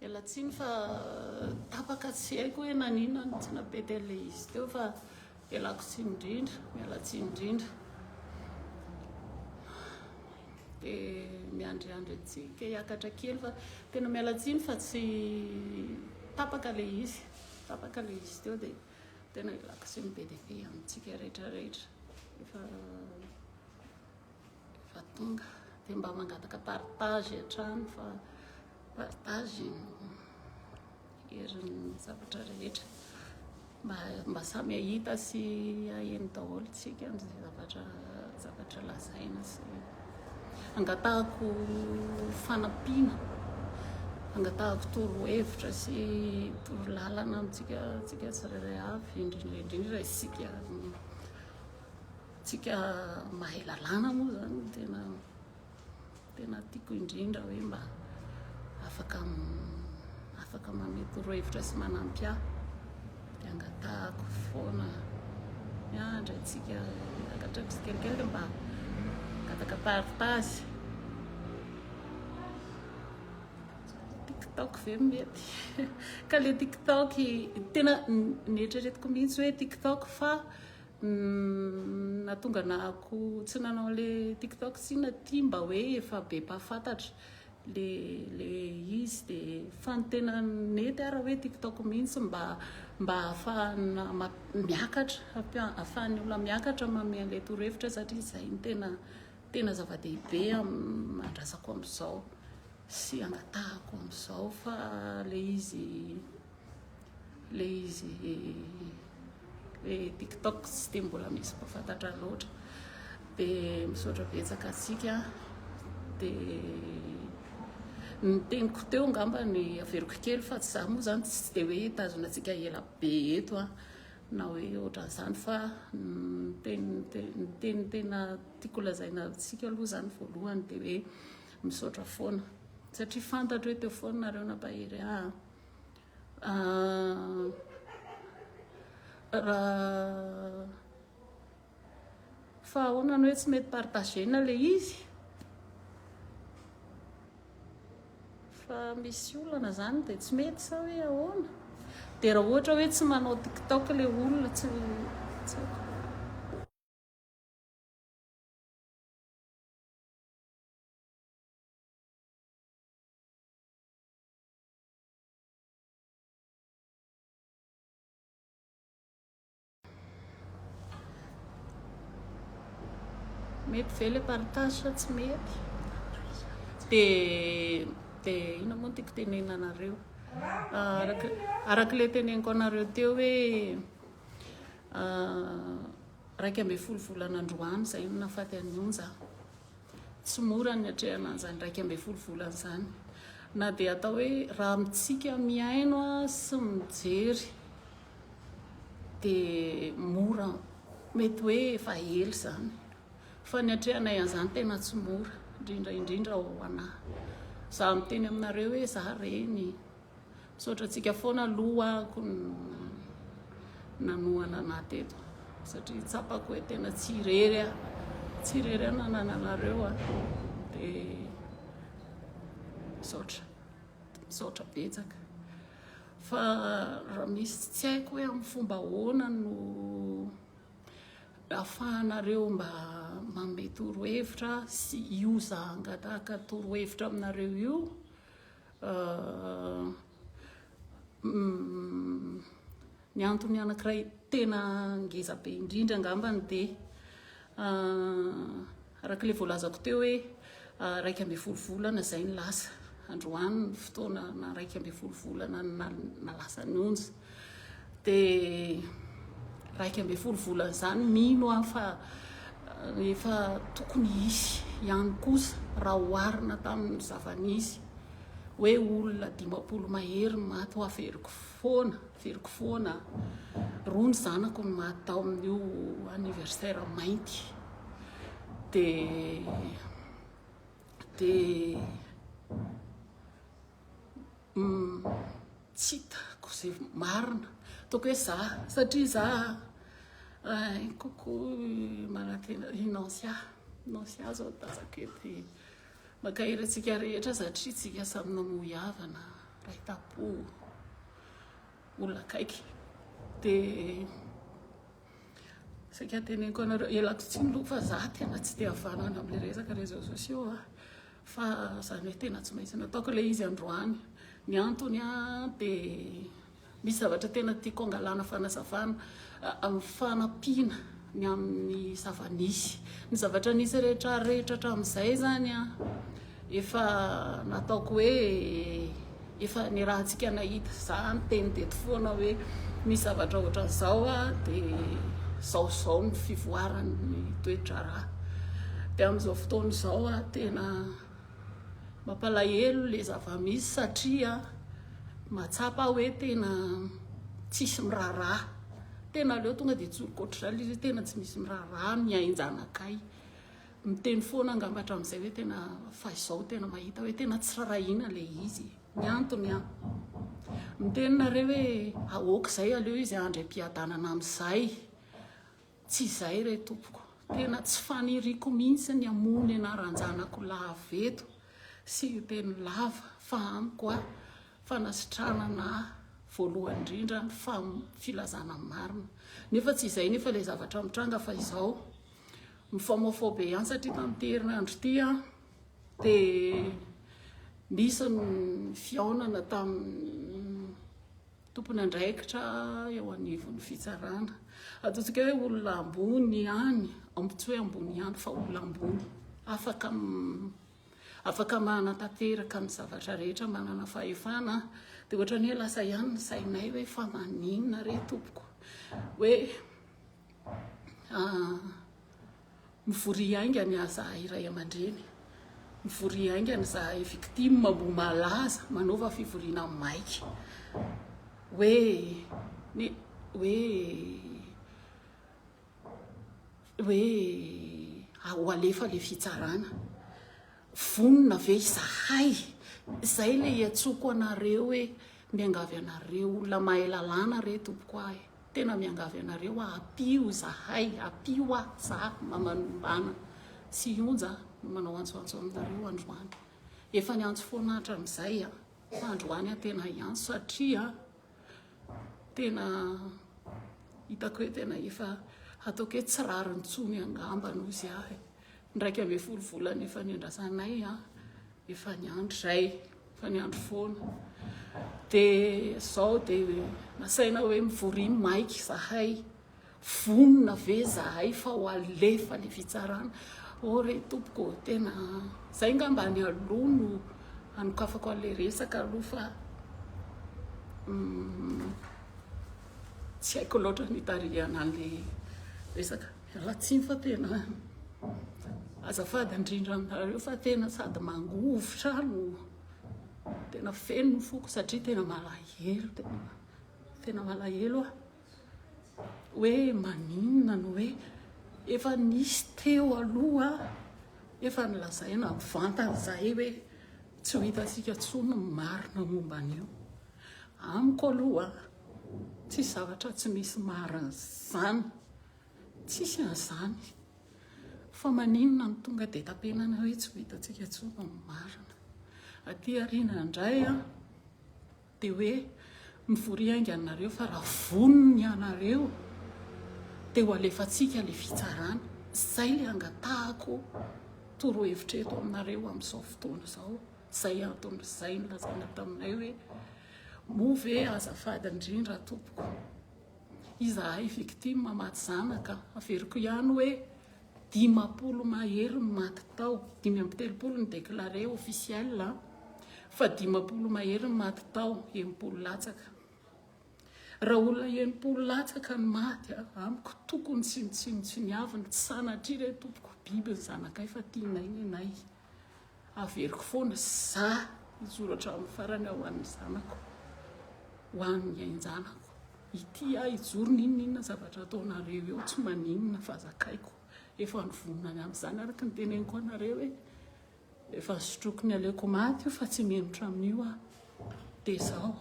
Miala tsiny fa tapaka tsy haiko hoe naninona no tsy napety an'ilay izy teo fa ialako tsiny indrindra, miala tsiny indrindra. Dia miandriandry antsika hiakatra kely fa tena miala tsiny fa tsy tapaka ilay izy, tapaka ilay izy teo dia tena ialako tsiny be dia be amintsika rehetra rehetra. Efa Efa tonga dia mba mangataka partage hatrany fa partage no herin'ny zavatra rehetra. Mba, mba samy hahita sy haheno daholo tsika ny zavatra, zavatra lazaina sy angatahako fanampiana, angatahako torohevitra sy torolalana amintsika tsika tsirairay avy, indrindra indrindra isika. Tsika mahay lalàna moa zany no tena tena tiako indrindra hoe mba afaka afaka manome torohevitra sy manampy ahy dia angatahako foana miandry antsika angatrako sy kelikely mba angataka partage tiktok ve mety ka le tiktok tena neritreretiko mihitsy hoe tiktok fa Nahatonga anahako tsy nanao an'le tiktok sina ty mba hoe efa be mpahafantatra le le izy de fa ny tena nety ara hoe tiktok mihitsy mba mba ahafahana miakatra ahafahan'ny olona miakatra manome an'le torohevitra satria zay ny tena tena zava-dehibe amin'ny andrasako amizao sy angatahako amizao fa le izy Ilay izy ilay tiktok tsy dia mbola misy mpahafantatra loatra dia misaotra betsaka antsika dia ny teniko teo angamba ny averiko kely fa tsy za moa zany tsy dia hoe hitazona antsika ela be eto a na hoe ohatran'izany fa ny teny tena tiako lazaina antsika aloha zany voalohany dia hoe misaotra foana satria fantatro hoe teo foana nareo nampahery ahy Fa ahoana ny hoe tsy mety partager-na ilay izy? Fa misy olana izany dia tsy mety sa hoe ahoana? Dia raha ohatra hoe tsy manao tiktok ilay olona tsy tsy haiko. Mety ve le partage sa tsy mety? De de ino moa tiako tenenina anareo? Araka araka le teneniko anareo teo hoe raika ambin'ny folo volana androany zay no nafaty an'i Onja. Tsy mora ny atrehana an'izany iraika ambin'ny folo volana izany, na dia atao hoe raha amintsika mihaino sy mijery dia mora, mety hoe efa ela izany fa ny atrehanay an'izany tena tsy mora, indrindra indrindra ho anah, za miteny aminareo hoe za reny. Misaotra antsika foana aloha ko nanohana anah teto satria tsapako hoe tena tsy irery aho tsy irery aho nanana anareo a dia misaotra misaotra betsaka fa raha misy tsy haiko hoe amin'ny fomba ahoana no afahanareo mba manome torohevitra sy io za hangataka torohevitra aminareo io Ny antony anankiray tena ngeza be indrindra angambany dia araka ilay voalazako teo hoe iraika ambin'ny folo volana izay no lasa. Androany ny fotoana na iraika ambin'ny folo volana no lasa ny onja. Dia iraika ambin'ny folo volana izany, mino aho fa efa tokony hisy ihany kosa raha oharina tamin'ny zava-nisy hoe olona dimampolo mahery no maty ho averiko foana, averiko foana roa ny zanako no maty tao amin'io anniversaire mainty. Dia dia Tsy hitako izay marina, ataoko hoe za satria za rahainy kokoa manantena i Nansia, Nansia izao no tazako eto e. Mankahery antsika rehetra satria isika samy namoy havana, iray tam-po, olona akaiky. Dia saika teneniko anareo, ialako tsiny aloha fa za tena tsy dia havanana amin'ilay resaka réseaux sociaux a. Fa zany hoe tena tsy maintsy nataoko ilay izy androany. Ny antony dia misy zavatra tena tiako hangalana fanazavana amin'ny fanampiana ny amin'ny zava-nisy. Ny zavatra nisy rehetra rehetra hatramin'izay zany efa nataoko hoe Efa ny rahantsika nahita za niteny teto foana hoe misy zavatra ohatran'izao dia zao zao ny fivoaran'ny toedraharaha. Dia amin'izao fotoana izao tena mampalahelo le zava-misy satria mahatsapa aho hoe tena tsisy miraharaha. Tena aleo tonga dia tsoriko ohatr'izany le izy hoe tena tsy misy miraharaha mihain-janakay. Miteny foana angamba hatramin'izay hoe tena fahizao tena mahita hoe tena tsy rarahiana ilay izy e. Ny antony an! Miteny nareo hoe aoka izay aleo izy ahandry am-piadanana amin'izay. Tsy izay re tompoko. Tena tsy faniriako mihitsy ny hamoha ny anaran-janako lava eto sy hiteny lava fa amiko an! Fanasitranana voalohany indrindra ny filazana ny marina. Nefa tsy izay nefa ilay zavatra mitranga fa izao. Mifamofoha be ihany satria tamin'ity herinandro ity dia nisy ny fihaonana tamin'ny tompon'andraikitra eo anivon'ny fitsarana. Ataontsika hoe olona ambony ihany, tsy hoe ambony ihany fa olona ambony. Afaka afaka manatanteraka ny zavatra rehetra manana fahefana dia ohatrany hoe lasa ihany ny sainay hoe fa maninona re tompoko hoe Ah, mivoria haingana izahay ray aman-dreny, mivoria haingana izahay victime mbo malaza manaova fivoriana maika hoe ny hoe hoe ho alefa ilay fitsarana. Vonona ve izahay? Izay ilay iantsoako anareo hoe miangavy anareo, olona mahay lalàna re tompoko ahy e! Tena miangavy anareo aho, ampio izahay, ampio aho, za Mamanombana sy Ionja no manao antsoantso aminareo androany. Efa niantso foana hatramin'izay aho, fa androany aho tena hiantso satria tena hitako hoe tena efa hataoko hoe tsy rariny intsony angamba ny ozy aho e! Indraika ambin'ny folo volana efa niandrasanay an! Efa niandry izay, efa niandry foana. Dia izao dia nasaina hoe mivoria maika izahay. Vonona ve izahay fa ho alefa ilay fitsarana? Oh re tompoko ô, tena izay ngamba ny aloha no hanokafako an'ilay resaka aloha fa tsy haiko loatra ny hitarihana an'ilay resaka. Ratsiny fa tena azafady indrindra aminareo fa tena sady mangovitra no tena feno ny foko satria tena malahelo tena tena malahelo ah hoe maninona no hoe efa nisy teo aloha efa nilazaina mivantana zahay hoe tsy ho hitantsika tsony ny marina momba an'io amiko aloha tsy zavatra tsy misy marina zany Tsisy an'izany. Fa maninona no tonga dia tapenana hoe tsy ho hitantsika intsony ao amin'ny marina. Aty aoriana indray dia hoe mivory haingana ianareo fa raha vonona ianareo dia ho alefantsika ilay fitsarana. Izay ilay angatahako torohevitra eto aminareo amin'izao fotoana izao. Izay antony izay nolazaina taminay hoe moa ve azafady indrindra tompoko. Izahay victime maty zanaka, averiko ihany hoe dimampolo mahery no maty tao, dimy amby telopolo ny declare officiel an, fa dimampolo mahery no maty tao, enimpolo latsaka. Raha olona enimpolo latsaka no maty, amiko tokony tsy nitsinotsiniavina, tsy sanatria re tompoko, biby ny zanakay fa tianay nenay. Averiko foana za hijoro hatramin'ny farany ho an'ny zanako, ho an'ny ain-janako. Ity aho hijoro n'inon'inona zavatra ataonareo eo, tsy maninona fa zakaiko. Efa nivonona ny amin'izany araka ny teneniko anareo hoe efa sotroiko ny aleoko maty io fa tsy menotra amin'io aho. Dia izao,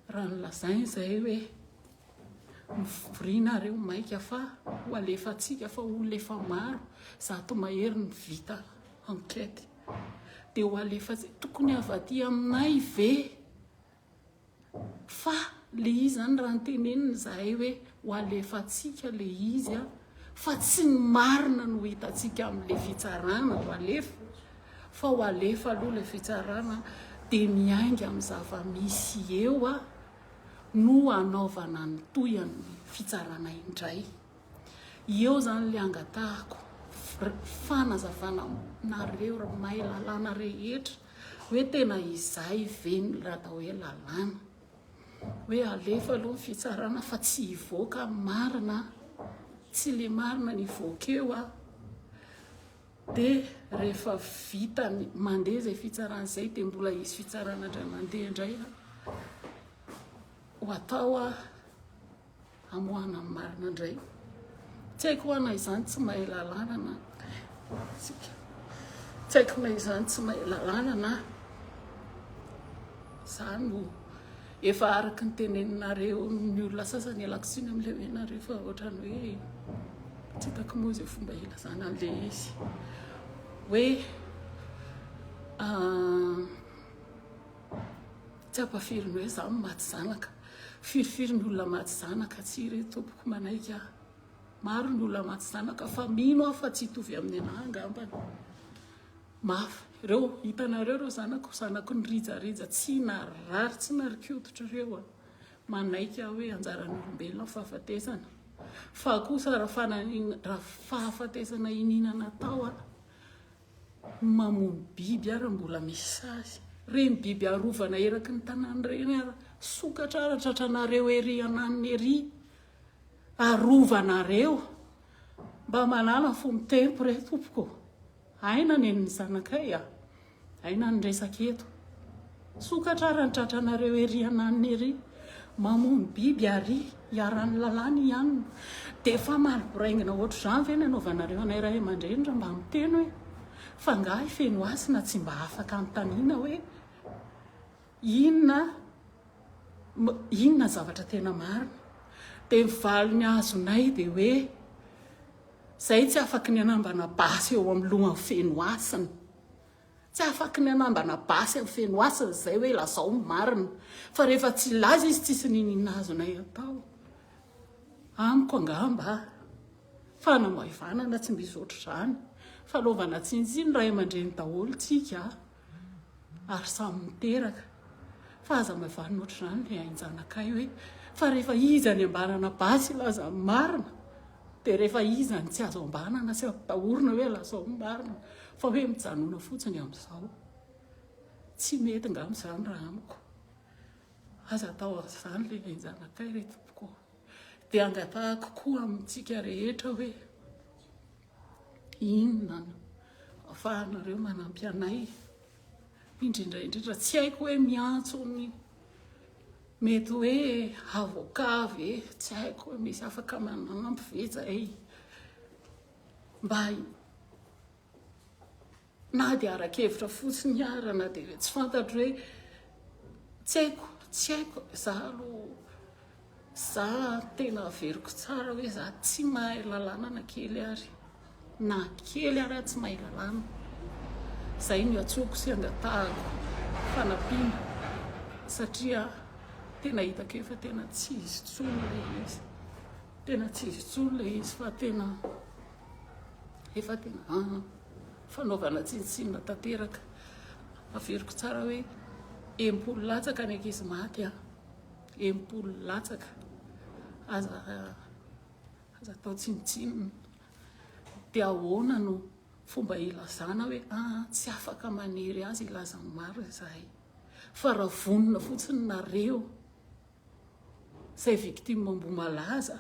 raha nolazainy izay hoe. Mivoria nareo maika fa ho alefantsika fa olona efa maro zato mahery ny vita enquête dia ho alefantsika tokony avy aty aminay ve fa le izy zany raha nitenenina izahay hoe ho alefantsika le izy a fa tsy ny marina no hitantsika amin'le fitsarana ho alefa fa ho alefa aloha le fitsarana dia miainga amin'ny zava-misy eo a no hanaovana ny tohin'ny fitsarana indray. Eo izany ilay angatahako fanazavana aminareo ry mahay lalàna rehetra hoe tena izay ve ny atao hoe lalàna. Hoe alefa aloha ny fitsarana fa tsy hivoaka ny marina, tsy ilay marina no hivoaka eo. Dia rehefa vita mandeha izay fitsarana izay dia mbola hisy fitsarana indray mandeha indray ho atao hamoahana ny marina indray. Tsy haiko ho ana izany tsy mahay lalàna na tsika. Tsy haiko na izany tsy mahay lalàna na za no Efa araka ny teneninareo ny olona sasany ialako tsiny amin'ilay hoe nareo fa ohatrany hoe tsy hitako moa izay fomba hilazana an'ilay izy hoe ah, tsy ampafiry ny hoe za maty zanaka firifiry ny olona maty zanaka tsy re tompoko manaiky aho maro ny olona maty zanaka fa mino aho fa tsy hitovy amin'ny anah angambany Mafy. Reo hitanareo reo zanako, zanako nirijarija tsy narary tsy narikototra reo a! Manaiky aho hoe anjaran'olombelona ny fahafatesana. Fa kosa raha fananina raha fahafatesana iniana natao a! Ny mamono biby ara mbola misy sazy. Reny biby arovana eraky ny tanàna reny ara sokatra ara tratranareo ery ananona ery. Arovana reo. Mba manala fo mitempo re tompoko. Aina anie ny zanakay a! Aina ny resaka eto. Sokatra ary ny tratranareo ery ananona ery. Mamono biby ary iharan'ny lalàna i anona. Dia efa maro boraingina ohatr'izany ve ny anaovanareo anay ray aman-dreny raha mba miteny hoe fa angaha i Fenohasina tsy mba afaka anontaniana hoe Inona inona zavatra tena marina? Dia ny valiny azonay dia hoe, Izahay tsy afaky ny hanambana basy eo amin'ny lohan'ny feno hasina. Tsy afaky ny hanambana basy amin'ny feno hasina izahay hoe lazao ny marina. Fa rehefa tsy hilaza izy tsisy niniana azonay atao. Amiko angamba, fanamaivanana tsy misy ohatr'izany. Fanaovana tsiny tsiny ray aman-dreny daholo tsika. ary samy miteraka fa aza maivanina ohatr'izany ry ainjanakay hoe fa rehefa iza ny ambanana basy laza ny marina dia rehefa iza ny tsy azo ambanana sy ampitahorina hoe lazao ny marina fa hoe mijanona fotsiny amin'izao tsy mety nga amin'izany raha amiko aza atao an'izany le ainjanakay re tompoko dia angatahako koa amintsika rehetra hoe Inona no ahafahanareo manampy anay, indrindra indrindra tsy haiko hoe miantso ny mety hoe avoka ve, tsy haiko hoe misy afaka manampy ve zay mba Na dia ara-kevitra fotsiny ara na dia hoe tsy fantatro hoe tsy haiko, tsy haiko, za aloha za tena averiko tsara hoe za tsy mahay lalàna na kely ary, na kely ary aho tsy mahay lalàna. Izay no iantsoako sy iangatahako fanampiana satria tena hitako eo fa tena tsy izy intsony ilay izy, tena tsy izy intsony ilay izy fa tena efa tena an. fanaovana tsinontsinona tanteraka. Averiko tsara hoe enimpolo latsaka ny ankizy maty an! Enimpolo latsaka! Aza aza atao tsinontsinona. Dia ahoana no fomba hilazana hoe ah, tsy afaka manery azy hilaza ny marina izahay. Fa raha vonona fotsiny nareo, Izay victime Ambohimalaza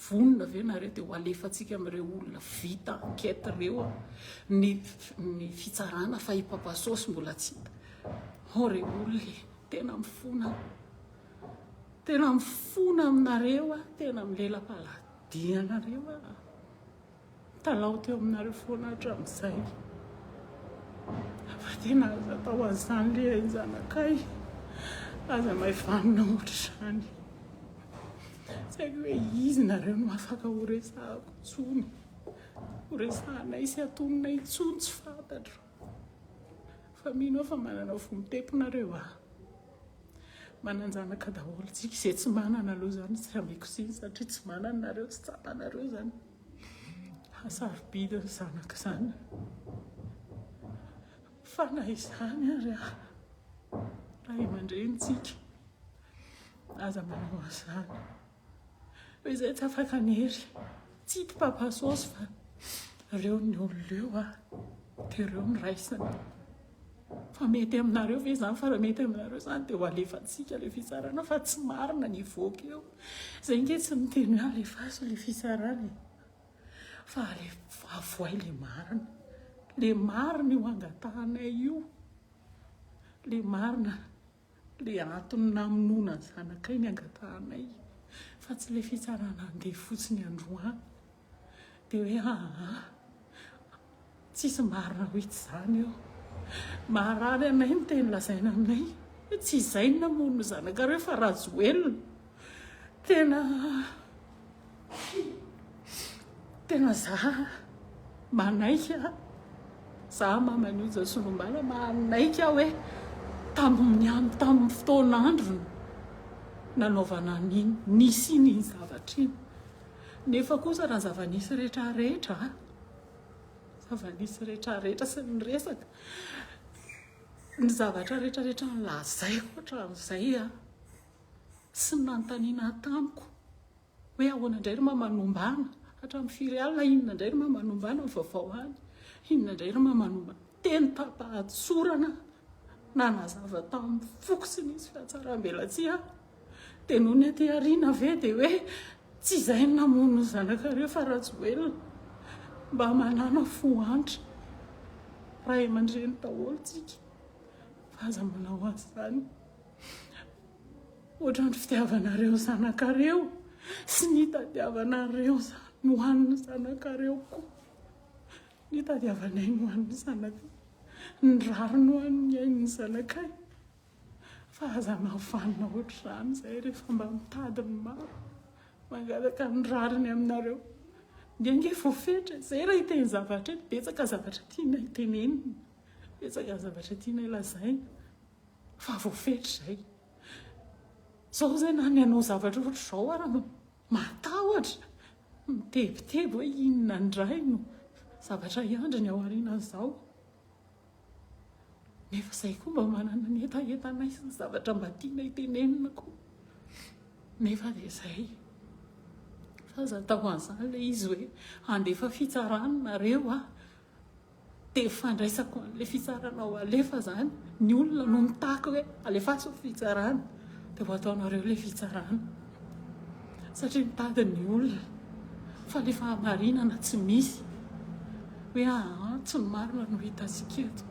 vonona ve nareo dia ho alefantsika amin'ireo olona vita enquête ireo ny fitsarana fa i Papa Sôsy mbola tsy hita. Hao re olona e! Tena mifona aho. Tena mifona aminareo aho, tena milela-paladian-nareo aho. Mitalaho teo aminareo foana hatramin'izay fa tena aza atao an'izany le eny zanakay, aza maivanina ohatr'izany. Tsy haiko hoe izy nareo no afaka horesahako intsony, horesahanay sy hatonina intsony tsy fantatro. Fa mino aho fa manana fo mitepo nareo a! Manan-janaka daholo tsika, izay tsy manana aloha izany tsy ameko tsiny satria tsy manana nareo, tsy tsapanareo izany hasarobidy ny zanaka izany, fa na izany ary a! Ray aman-drenintsika aza manao an'izany. Izay tsy afaka ny hery, tsy hita papa sôsy fa reo ny olona eo a, de reo no raisina. Fa mety aminareo ve zany fa raha mety aminareo zany de ho alefantsika le fitsarana fa tsy marina ny hivoaka eo. Zay nge tsy miteny hoe alefaso le fitsarana e, fa alef- avoay le marina, le marina io angatahanay io, le marina. Ilay antony namonoana ny zanakay ny angatahanay fa tsy ilay fitsarana handeha fotsiny androany dia hoe aa tsisy marina hoe tsy izany eo maharary anay ny teny lazaina aminay hoe tsy izay ny namono ny zanakareo fa rajoelina tena Tena za manaiky a, za maman'io Jasolombala manaiky aho hoe tamin'ny tamin'ny fotoan'androny nanaovana an'iny, nisian'iny zavatra iny. Nefa kosa raha ny zava-nisy rehetrarehetra a, zava-nisy rehetrarehetra sy ny resaka, ny zavatra rehetrarehetra nolazaiko hatramin'izay a. Tsy nanontaniana tamiko hoe ahoana indray ry Mamanombana, hatramin'ny firy alina, inona indray ry Mamanombana ny vaovao any, inona indray ry Mamanombana. Teny tamim-pahatsorana nanazava tamin'ny foko tsy nisy fihatsarambelatsihy aho. Dia nony aty aoriana ve dia hoe tsy izay no namono ny zanakareo fa Rajoelina. Mba manàna fo antra ray aman-dreny daholo tsika fa aza manao an'izany. Ohatran'ny fitiavanareo zanakareo sy ny itadiavanareo zany ho an'ny zanakareo koa ny itadiavanay ho an'ny zanakay, ny rariny ho an'ny ain'ny zanakay fa aza mahavanona ohatr'izany izay rehefa mba mitady ny maro mangataka ny rariny aminareo dia ange voafetra, izay raha hiteny zavatra, betsaka zavatra tianay tenenina, betsaka zavatra tianay lazaina. fa voafetra izay. Izao izay na ny hanao zavatra ohatr'izao ara no mahatahotra, mitebiteby hoe inona indray no zavatra hiandry ny ao aorianan'izao. Nefa izay koa mba manana ny hetahetanay sy ny zavatra mba tianay tenenina koa. Nefa dia izay. Fa aza atao an'izany ilay izy hoe handefa fitsarana nareo ah. Dia fandraisako an'ilay fitsarana ho alefa izany, ny olona no mitaky hoe alefaso ny fitsarana, dia ho ataonareo ilay fitsarana. Satria mitady ny olona, fa ilay fahamarinana tsy misy. Hoe aa, tsy ny marina no hitantsika eto.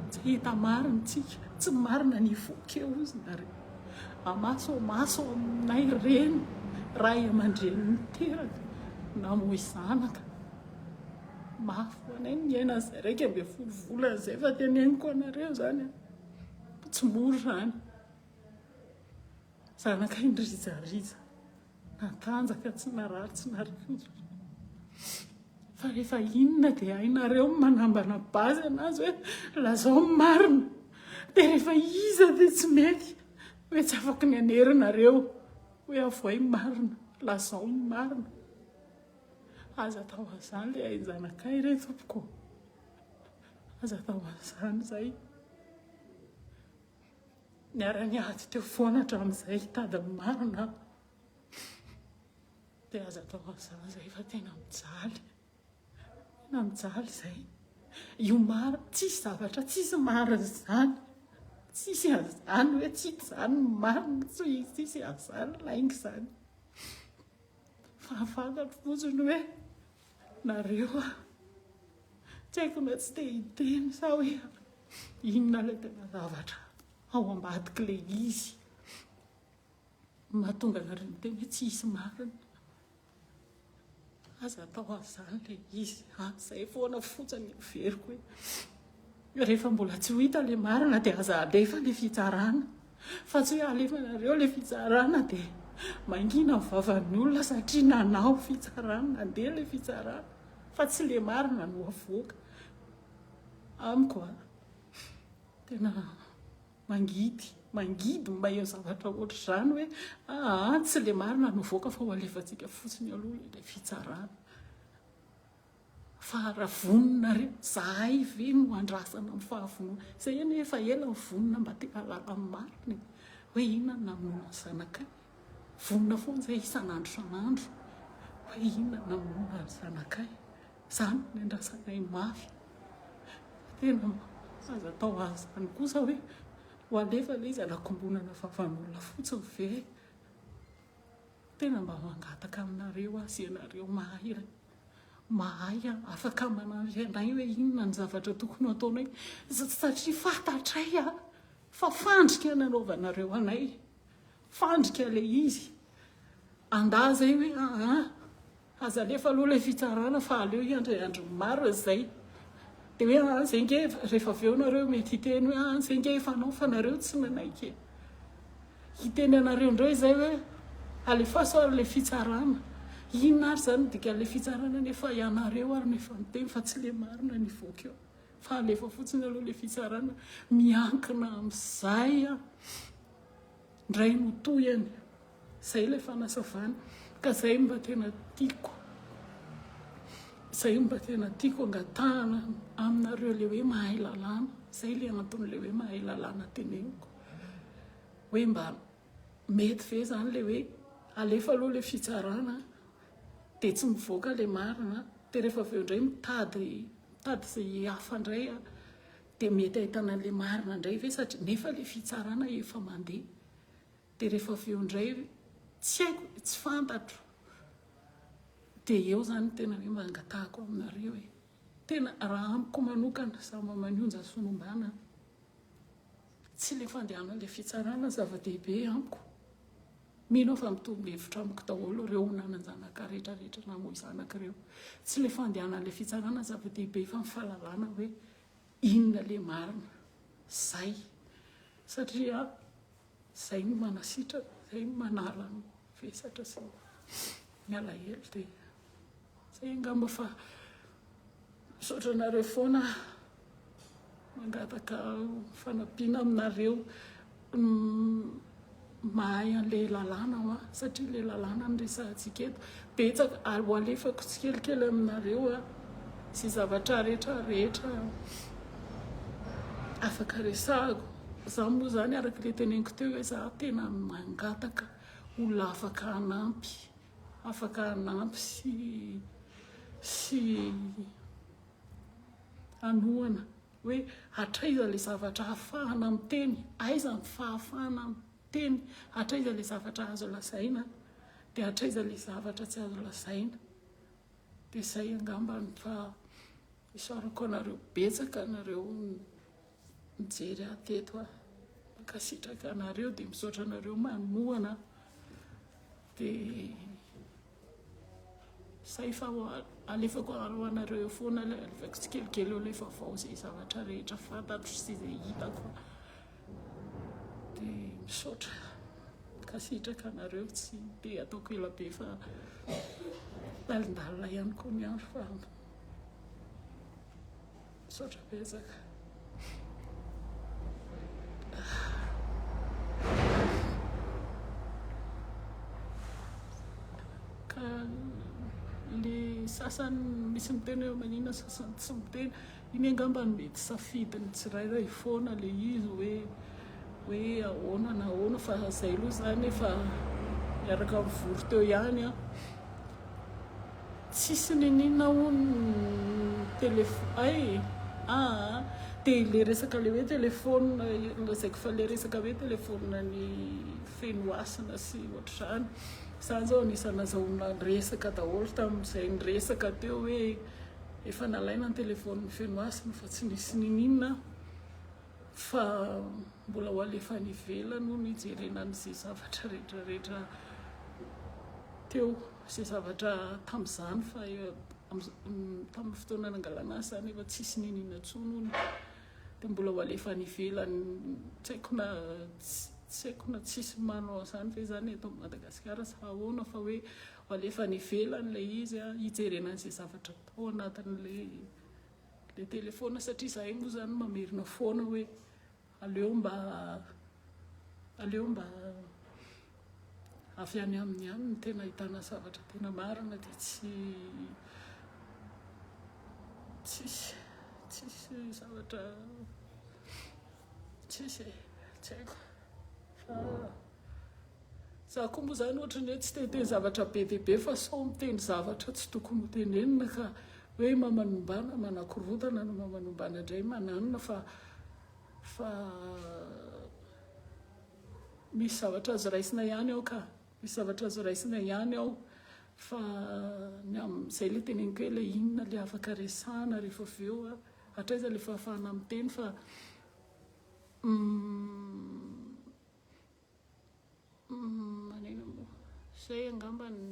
Tsy hahita marina isika, tsy ny marina no hivoaka eo, hozy nareo. Amaso amaso aminay reny, ray aman-dreny niteraka, namoy zanaka. Mafy ho anay ny miaina an'izay iraika ambin'ny folo volana izay fa teneniko anareo izany an! Tsy mora izany. Zanakay nirizariza, natanjaka, tsy narary, tsy narikodina. Fa rehefa inona dia hainareo ny manambana base an'azy hoe lazao ny marina. Dia rehefa iza dia tsy mety hoe tsy afaka ny hanerinareo hoe avohay ny marina, lazao ny marina. Aza atao an'izany le hay zanakay re tompoko ô, aza atao an'izany zay, niara-niady teo foana hatramin'izay hitady ny marina aho, dia aza atao an'izany zay fa tena mijaly, tena mijaly izay, io marina, tsisy zavatra tsisy marina izany, tsisy an'izany hoe tsy izany ny marina, tsisy an'izany lainga izany. Fahafantatro fotsiny hoe nareo a! Tsy haiko na tsy te hiteny sa hoe inona ilay tena zavatra ao ambadik'ilay izy mahatonga anareo miteny hoe tsy hisy marina. Aza atao an'izany ilay izy a! Izay foana fotsiny no heveriko e! Rehefa mbola tsy ho hita ilay marina dia aza alefa ilay fitsarana fa tsy hoe alefanareo ilay fitsarana dia mangina ny vavan'ny olona satria nanao fitsarana nandeha ilay fitsarana fa tsy ilay marina no avoaka amiko a tena mangidy mangidy ny maheno zavatra ohatr'izany hoe aa tsy ilay marina no avoaka fa ho alefantsika fotsiny aloha ilay fitsarana Fa raha vonona re, zahay ve no andrasana ny fahavonona? Izay anie efa ela mivonona mba te hahalala ny marina e! Hoe inona ny namonoana ny zanakay? Vonona foana izay isan'andro isan'andro hoe inona ny namonoana ny zanakay? Izany no niandrasanay mafy. Fa tena aza atao azy izany kosa hoe ho alefa ilay izy hanakombonana vavan'olona fotsiny ve? Tena mba mangataka aminareo aho sy ianareo mahay. Mahay aho, afaka manampy anay hoe inona ny zavatra tokony hataonay, satria fantatray fa fandrika ny anaovanareo anay, fandrika ilay izy. Andà izay hoe aa, aza alefa aloha ilay fitsarana fa aleo hiandry andro maro izay. Dia hoe aa, izay ange, rehefa avy eo nareo mety hiteny hoe aa, izay ange efa anaovanareo tsy nanaiky e. Hiteny anareo indray izay hoe alefaso ary ilay fitsarana. Inona ary izany ny dikan'ilay fitsarana anie fa ianareo ary no efa niteny fa tsy ilay marina no hivoaka eo. Fa alefa fotsiny aloha ilay fitsarana. Miankina amin'izay an! Indray no tohiny. Izay ilay fanasavana. Ka izay no mba tena tiako. Izay no mba tena tiako angatahana aminareo ilay hoe mahay lalàna. Izay ilay anton'ilay hoe mahay lalàna teneniko. hoe mba mety ve zany le hoe alefa aloha le fitsarana de tsy mivoaka le marina de rehefa avy eo indray mitady mitady ze hafa indray de mety ahitana an'le marina indray ve satria nefa le fitsarana efa mandeha de rehefa avy eo indray tsy haiko e tsy fantatro de eo zany tena hoe mba angatahako aminareo e tena raha amiko manokana za mba manonja sy miombana Tsy ilay fandehanan'ilay fitsarana zava-dehibe amiko. Mino aho fa mitovy hevitra amiko daholo ireo ho nanan-janaka rehetra rehetra namoy zanaka ireo. Tsy ilay fandehanan'ilay fitsarana zava-dehibe fa ny fahalalana hoe inona ilay marina. Izay. Satria izay no manasitrana, izay no manala ny vesatra sy ny. Mialahelo dia zay angamba fa misaotra anareo foana mangataka fanampiana aminareo mahay an'ilay lalàna hoa satria ilay lalàna no resahantsika eto betsaka ary ho alefako tsikelikely aminareo a sy zavatra rehetra rehetra afaka resahako za moa zany araka le teneniko teo hoe za tena mangataka olona afaka hanampy, afaka hanampy sy sy hanohana hoe hatraiza ilay zavatra ahafahana miteny, aiza ny fahafahana miteny, hatraiza ilay zavatra azo lazaina dia hatraiza ilay zavatra tsy azo lazaina, dia izay angamba ny fa isaorako anareo betsaka anareo. mijery ahy teto aho mankasitraka anareo dia misaotra anareo manohana dia zay fa alefako ho anareo eo foana ilay alefako tsikelikely eo ilay vaovao izay zavatra rehetra fantatro sy izay hitako dia misaotra mankasitraka anareo tsy dia ataoko ela be fa talindalina ihany koa ny andro fa Misaotra betsaka. Ka le sasany misy miteny hoe manina sasany tsy miteny. Iny angamba no mety safidin'ny tsirairay foana le izy hoe hoe ahoana na ahoana fa zay aloha zany efa miaraka mivory teo ihany an. Tsisy niniana hono ny telephone ay aa de le resaka le hoe telephone lazaiko fa le resaka hoe telephone ny feno hasina sy ohatr'izany zany zao anisany nazahona resaka daholo tamin'izay niresaka teo hoe efa nalaina ny telephone ny feno hasina fa tsy nisy niniana aho fa mbola ho alefa any ivelany hono hijerena an'izay zavatra rehetra rehetra teo Izay zavatra tamin'izany fa tamin'ny fotoana nangalana azy izany efa tsisy niniana intsony hono dia mbola ho alefa any ivelany tsy haiko na tsy haiko na tsisy manao an'izany ve izany eto Madagasikara sa ahoana fa hoe ho alefa any ivelany ilay izy hijerena an'izay zavatra tao anatin'ilay ilay telefaonina satria izahay moa izany mamerina foana hoe Aleo mba aleo mba avy any aminy ihany no tena ahitana zavatra tena marina dia tsy tsisy tsisy zavatra tsisy e, tsy haiko fa. Za koa moa zany ohatran'ny hoe tsy te-hiteny zavatra be dia be fa sao miteny zavatra tsy tokony ho tenenina ka hoe mamanombana, manakorontana no mamanombana indray mananina fa fa misy zavatra azo raisina ihany ao ka, misy zavatra azo raisina ihany ao fa ny amin'izay ilay teneniko hoe ilay inona ilay afaka resahana rehefa avy eo a, hatraiza ilay fahafahana miteny fa Manina moa? Izay angamba no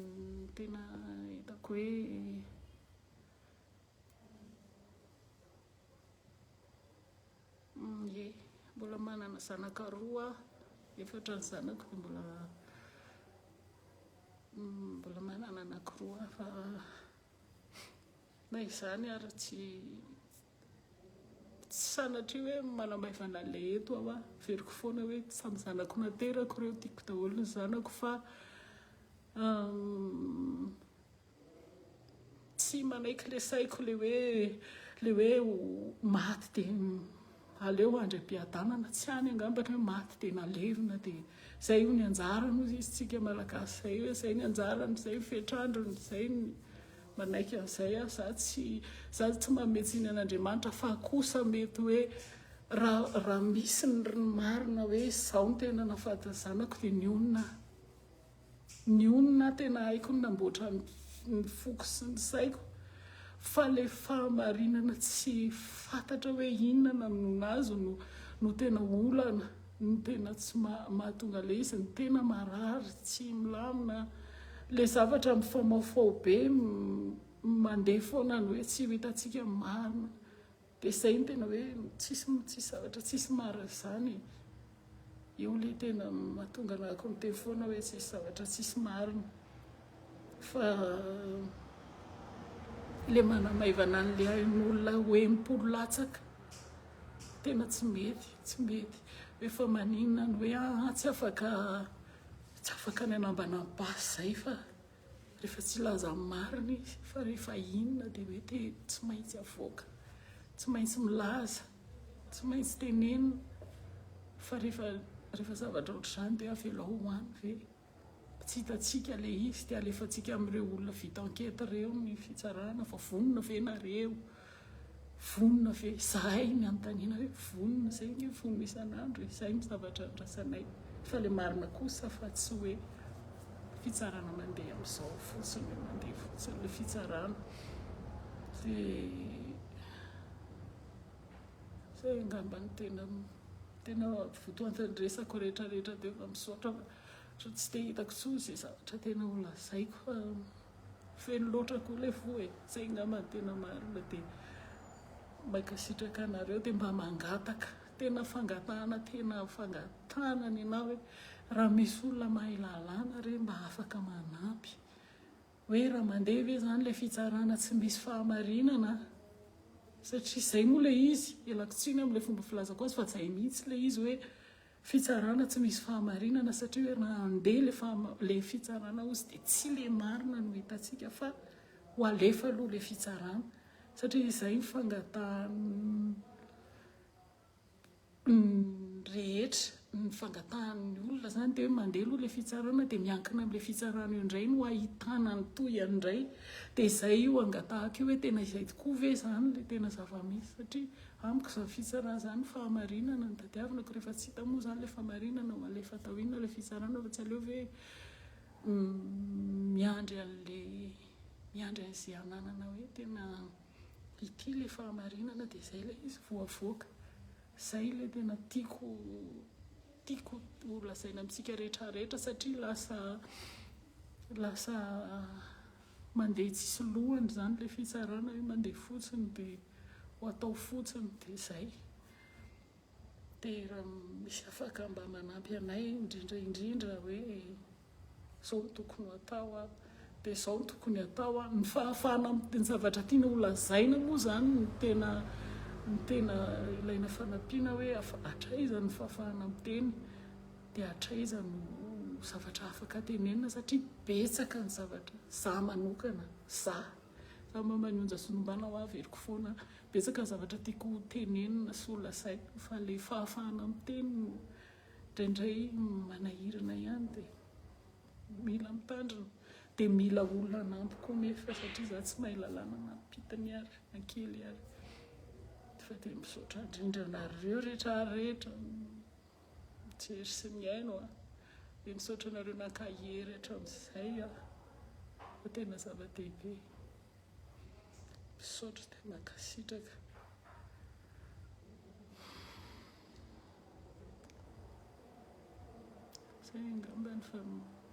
tena hitako hoe Ie, mbola manana zanaka roa aho, efatra ny zanako dia mbola mbola manana anankiroa fa na izany ary tsy Tsy sanatria hoe manamaivana ilay eto aho a. Averiko foana hoe samy zanako naterako ireo, tiako daholo ny zanako fa tsy manaiky ilay saiko ilay hoe ilay hoe maty dia aleo handry am-piadanana. Tsy any angamba ny hoe maty dia nalevina dia izay hono ny anjarany hoy isika Malagasy izay hoe izay ny anjarany, izay ny fetr'androny, izay ny. Manaiky an'izay aho, za tsy, za tsy manome tsiny an'Andriamanitra, fa kosa mety hoe raha, raha misy ny ny marina hoe izaho no tena nahafaty ny zanako dia nionona aho. Nionona aho, tena haiko ny namboatra ny, ny foko sy ny saiko, fa ilay fahamarinana tsy fantatra hoe inona no nahazo no, no tena olana. ny tena tsy mahatonga le izy ny tena marary tsy milamina le zavatra mifamaofao be mandeha foana ny hoe tsy ho hitantsika ny marina dia izay ny tena hoe tsisy tsisy zavatra tsisy marina izany e. io le tena mahatonga anako miteny foana hoe tsisy zavatra tsisy marina Fa ilay manamaivana an'ilay ain'olona ho enim-polo latsaka, tena tsy mety, tsy mety. Hoe fa maninona ny hoe ahy tsy afaka, tsy afaka ny hanambana an'i Basy izay fa rehefa tsy hilaza ny marina izy, fa rehefa inona dia hoe te, tsy maintsy avoaka, tsy maintsy milaza, tsy maintsy tenenina, fa rehefa, rehefa zavatra ohatr'izany dia avelao ho any ve? Tsy hitantsika ilay izy dia alefantsika amin'ireo olona vita enquête ireo ny fitsarana fa vonona ve nareo? Vonona ve? Izahay ny anontaniana hoe vonona? Izay ange vonona isan'andro e! Izay ny zavatra andrasanay fa ilay marina kosa fa tsy hoe fitsarana mandeha amin'izao fotsiny hoe mandeha fotsiny ilay fitsarana dia izay angamba no tena tena votoatin'ny resako rehetra rehetra teo fa misaotra fa Otrany tsy dia hitako tsony ze zavatra tena ho lazaiko fa feno loatra koa le fo e! Zay ngamba no tena marina de mankasitraka anareo de mba mangataka tena fangatahana tena fangatahana ny anah hoe raha misy olona mahay lalàna re mba afaka manampy hoe raha mandeha ve zany le fitsarana tsy misy fahamarinana satria zay moa le izy elako tsiny amle fomba filazako azy fa zay mihitsy le izy hoe Fitsarana tsy misy fahamarinana satria hoe raha handeha ilay fahama, ilay fitsarana ozy dia tsy ilay marina no hitantsika fa ho alefa aloha ilay fitsarana satria izay ny fangatahan'ny rehetra, ny fangatahan'ny olona izany dia hoe mandeha aloha ilay fitsarana dia miankina amin'ilay fitsarana eo indray no hahitana ny tohiny indray dia izay io angatahako io hoe tena izay tokoa ve izany ilay tena zava-misy satria Amiko izany fitsarana izany fahamarinana no tadiavinako rehefa tsy hita moa izany ilay fahamarinana ho alefa atao inona ilay fitsarana fa tsy aleo ve miandry an'ilay miandry an'izay ananana hoe tena ity ilay fahamarinana dia izay ilay izy vao avoaka. Izay ilay tena tiako tiako ho lazaina amintsika rehetra rehetra satria lasa lasa Mandeha tsisy lohany izany ilay fitsarana hoe mandeha fotsiny dia ho atao fotsiny dia izay. Dia raha misy afaka mba manampy anay indrindra indrindra hoe izao no tokony ho atao an, dia izao no tokony atao an. Ny fahafahana ny zavatra tiana ho lazaina moa izany no tena no tena ilaina fanampiana hoe hatraiza ny fahafahana miteny. dia hatraiza no zavatra afaka tenenina satria betsaka ny zavatra za manokana za fa maman'i onja sy nombana hoa averiko foana betsaka ny zavatra tiako ho tenenina sy ho lazaina fa ilay fahafahana miteny no indraindray manahirana ihany dia mila mitandrina dia mila olona hanampy koa nefa satria za tsy mahay lalàna na pita ny ary na kely ary fa dia misaotra indrindra anareo rehetra rehetra Mijery sy mihaino a! Dia misaotra anareo nankahery hatramin'izay a! Fa tena zava-dehibe. Misaotra dia mankasitraka. Izay angamba ny.